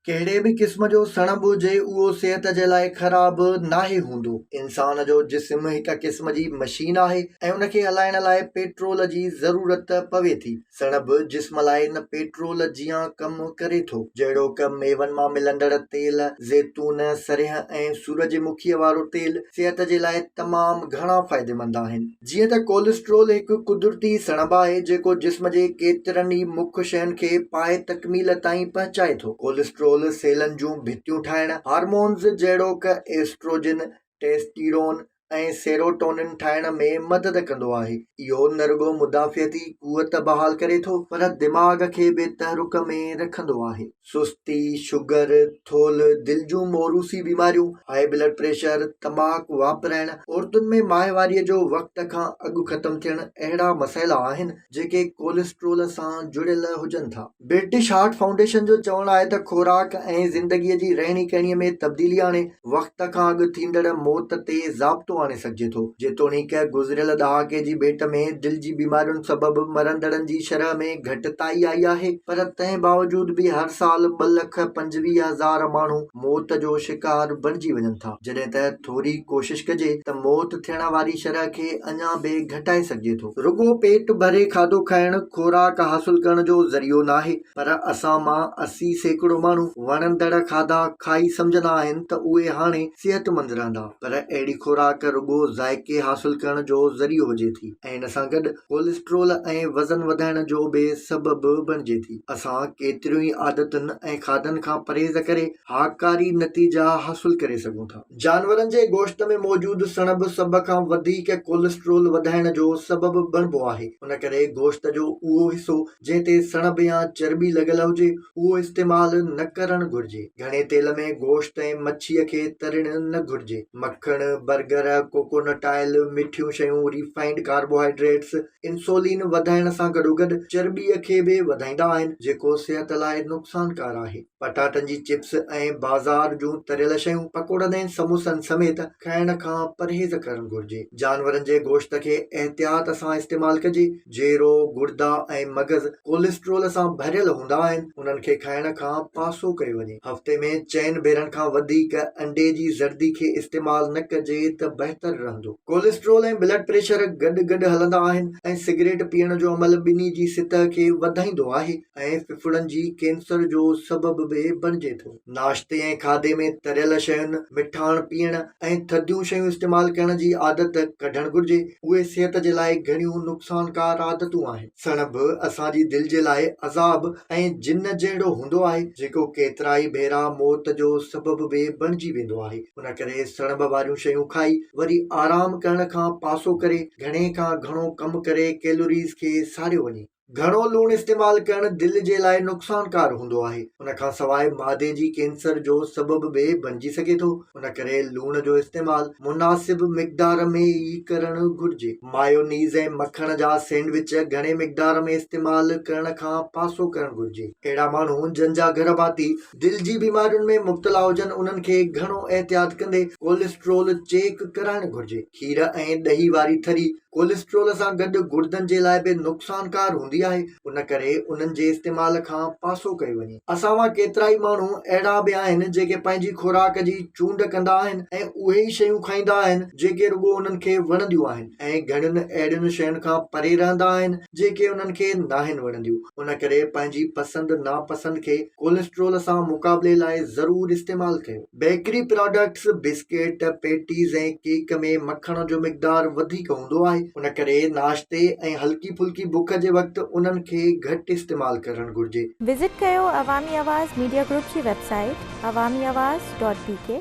ڪهڙي به قسم جو سڻڀ هجي اهو صحت جي لاء خراب ناهي هوندو. انسان جو جسم هڪ قسم جي مشين آهي ۽ ان کي هلائڻ لاء پيٽرول جي ضرورت پوي ٿي. سڻڀ جسم لاء ان پيٽرول جيان ڪم ڪري ٿو. جهڙوڪ ميون مان ملندڙ تيل، زيتون، سرهه ۽ سورج مکيء وارو تيل صحت جي لاء تمام گهڻا فائديمند آهن. جيئن ته ڪولسٽرول هڪ قدرتي سڻڀ آهي جيڪو جسم جي ڪيترن ئي مک شين کي پائي تڪميل تائين پهچائي ٿو. ڪولسٽرول سيلن جون ڀتيون ٺاهڻ، هارمونز جهڙوڪ ايسٽروجن، ٽيسٽيرون ۽ سيروٽونين ٺاهڻ ۾ مدد ڪندو آهي. اهو نه رڳو مدافعتي قوت بحال ڪري ٿو پر دماغ کي به تحرڪ ۾ رکندو آهي. سستي، شگر، ٿولهه، دل جون موروثي بيماريون، هاء بلڊ پريشر، تماڪ واپرائڻ، عورتن ۾ ماهواريء جو وقت کان اڳ ختم ٿيڻ اهڙا مسئلا آهن جيڪي ڪوليسٽرول سان جڙيل هجن ٿا. برٽش هارٽ فائونڊيشن جو چوڻ آهي ته خوراڪ ۽ زندگيء جي رهڻي ڪهڻيء ۾ تبديلي آڻي وقت کان اڳ ٿيندڙ موت تي ضابطو آڻي سگهجي ٿو. جيتوڻيڪ گذريل ڏهاڪي جي ڀيٽ ۾ دل جي بيمارين سبب مرندڙن جي شرح ۾ گهٽتائي آئي آهي پر تنهن باوجود به هر سال ٻه لک پنجويهه هزار ماڻهو موت جو شڪار بڻجي وڃن ٿا جڏهن ته ٿوري ڪوشش ڪجي ته موت ٿيڻ واري شرح کي اڃا به گهٽائي سگهجي ٿو. رڳو پيٽ ڀري کاڌو کائڻ خوراڪ حاصل ڪرڻ جو ذريعو ناهي پر اسان مان اسي سيڪڙو ماڻهو وڻندڙ کاڌا کائي سمجهندا آهن ته اهي هاڻي صحتمند رهندا پر اهڙي خوراڪ رڳو ذائقي حاصل ڪرڻ جو ذريعو هجي ٿي ۽ ان سان گڏ ڪولسٽرول ۽ وزن وڌائڻ جو به سبب بڻجي ٿي اسان ڪيتريون ئي عادتن ۽ کاڌن کان پرهيز ڪري هاڪاري نتيجا حاصل ڪري سگهون ٿا. جانورن جي گوشت ۾ موجود سڻڀ سڀ کان وڌيڪ ڪولسٽرول وڌائڻ جو سبب بڻبو آهي ان ڪري گوشت جو اهو حصو جنهن تي سڻڀ يا چرٻي لڳل هجي اهو استعمال نه ڪرڻ گهرجي گهڻي تيل ۾ گوشت ۽ مڇي کي ترڻ نه گهرجي مکڻ برگر ڪوڪونٽ آئل مٺيون شيون ريفائنڊ ڪاربوهائيڊريٽس انسولين وڌائڻ سان گڏوگڏ چرٻي کي به وڌائيندا آهن جيڪو صحت لاء نقصانڪار آهي پٽاٽن جي چپس ۽ بازار جون تريل شيون پڪوڙن ۽ سموسن سميت کائڻ کان پرهيز ڪرڻ گهرجي جانورن جي گوشت کي احتياط سان استعمال ڪجي جيرو گڙدا ۽ مغز ڪوليسٽرول سان ڀريل هوندا آهن انهن کي کائڻ کان پاسو ڪيو وڃي هفتي ۾ چئن ڀيرن کان وڌيڪ انڊي جي زردي کي استعمال نه ڪجي ته بهتر رهندو ڪوليسٽرول ۽ بلڊ پريشر گڏ گڏ هلندا آهن ۽ سگريٽ پيئڻ جو عمل ٻني جي سطح کي وڌائيندو آهي. ۽ ڦڦڙن جي ڪينسر جو سبب به بڻجي ٿو. ناشتي ۽ کاڌي ۾ تريل شين، مٺاڻ پيئڻ ۽ ٿڌيون شيون استعمال ڪرڻ جي عادت ڪڍڻ گهرجي، اهي صحت جي لاء گهڻيون نقصانڪار عادتون آهن. سڻڀ اسان جي دل جي لاء عذاب ۽ جن جهڙو هوندو آهي، جيڪو ڪيترائي ڀيرا موت جو سبب به بڻجي ويندو آهي، ان ڪري سڻڀ واريون شيون کائي وري آرام ڪرڻ کان پاسو ڪري، گهڻي کان گهڻو ڪم ڪري ڪيلوريز کي ساڙيو وڃي. گهڻو لوڻ استعمال ڪرڻ دل جي لاء نقصانڪار هوندو آهي. ان کان سواء معدي جي ڪينسر جو سبب به بنجي سگهي ٿو. ان ڪري لوڻ جو استعمال مناسب مقدار ۾ ئي ڪرڻ گهرجي. مايونيز ۽ مکڻ جا سينڊوچ گهڻي مقدار ۾ استعمال ڪرڻ کان پاسو ڪرڻ گهرجي. اهڙا ماڻهو جن جا گهر ڀاتي دل جي بيمارين ۾ مبتلا هجن انهن کي گهڻو احتياط ڪندي ڪوليسٽرول چيڪ ڪرائڻ گهرجي. کير ۽ ڏهي واري ٿري ڪوليسٽرول سان گڏ گڙدن جي لاء به نقصانڪار هوندي آهي ان ڪري انهن جي استعمال کان پاسو ڪيو وڃي اسان مان ڪيترائي ماڻهو اهڙا به آهن جيڪي پنهنجي خوراڪ جي چونڊ ڪندا آهن ۽ اهي ئي شيون کائيندا آهن جيڪي رڳو انهن کي وڻنديون آهن ۽ گهڻين اهڙين شين کان پري رهندا آهن جيڪي انهن کي ناهن وڻنديون ان ڪري پنهنجي پسند ناپسند کي ڪوليسٽرول سان مقابلي لاء ضرور استعمال ڪيو. Bakery products, biscuit, patties ۽ cake ۾ مکڻ جو مقدار وڌيڪ هوندو آهي، ان ڪري ناشتي ۽ هلڪي ڦلڪي بک جي وقت انهن کي گهٽ استعمال ڪرڻ گهرجي. وزٽ ڪيو عوامي آواز ميڊيا گروپ جي website Awami Awaz dot بي ڪي.